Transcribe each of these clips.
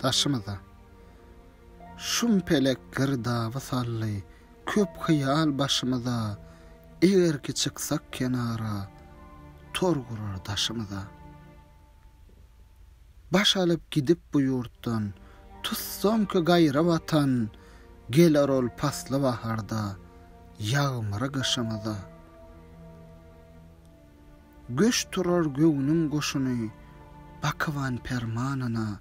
Daşymyza Şum pelek girdaby saldy Köp hyýal başymyza Eger ki çyksak kenara Tor gurar daşymyza Baş alyp gidip bu ýurtdan Tutsam ki gaýra watan Geler ol pasly baharda Ýagmyry gyşymyza. Göç turar göwnüň goşuny Bakyban permanyna,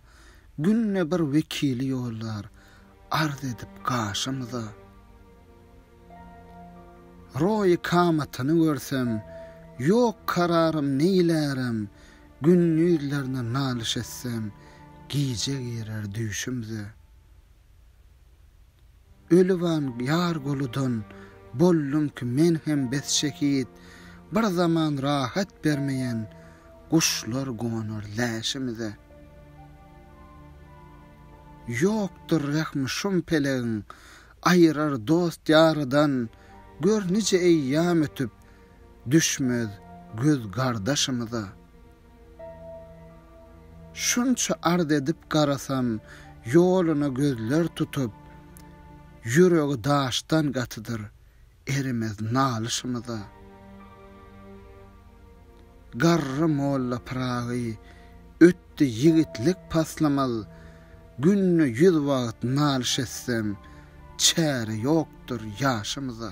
Günde bir wekili ýollar Arz edip gaşymyza. Roýy kamatyny görsem, Ýok kararym neýlärem, Gündizlerine nalyş etsem, Gije girer düýşümze. Öliwan ýar goludan, Boldum ki men hem bes şehit, Bir zaman rahat bermeýän, Guşlar gonar läşimize. Ýokdur rehmi şum pelegiň, Aýyrar dost ýarydan, Gör nije eýýam ötüp, Düşmez göz gardaşymyza. Şunça arz edip garasam, ýoluna gözler tutup, Ýüregi daşdan gatydyr erimez nalyşymyza. Garry molla Pyragy ötdi ýigitlik paslamaz, Günde ýüz wagt nalyş etsem, çäre ýokdur ýaşymyza.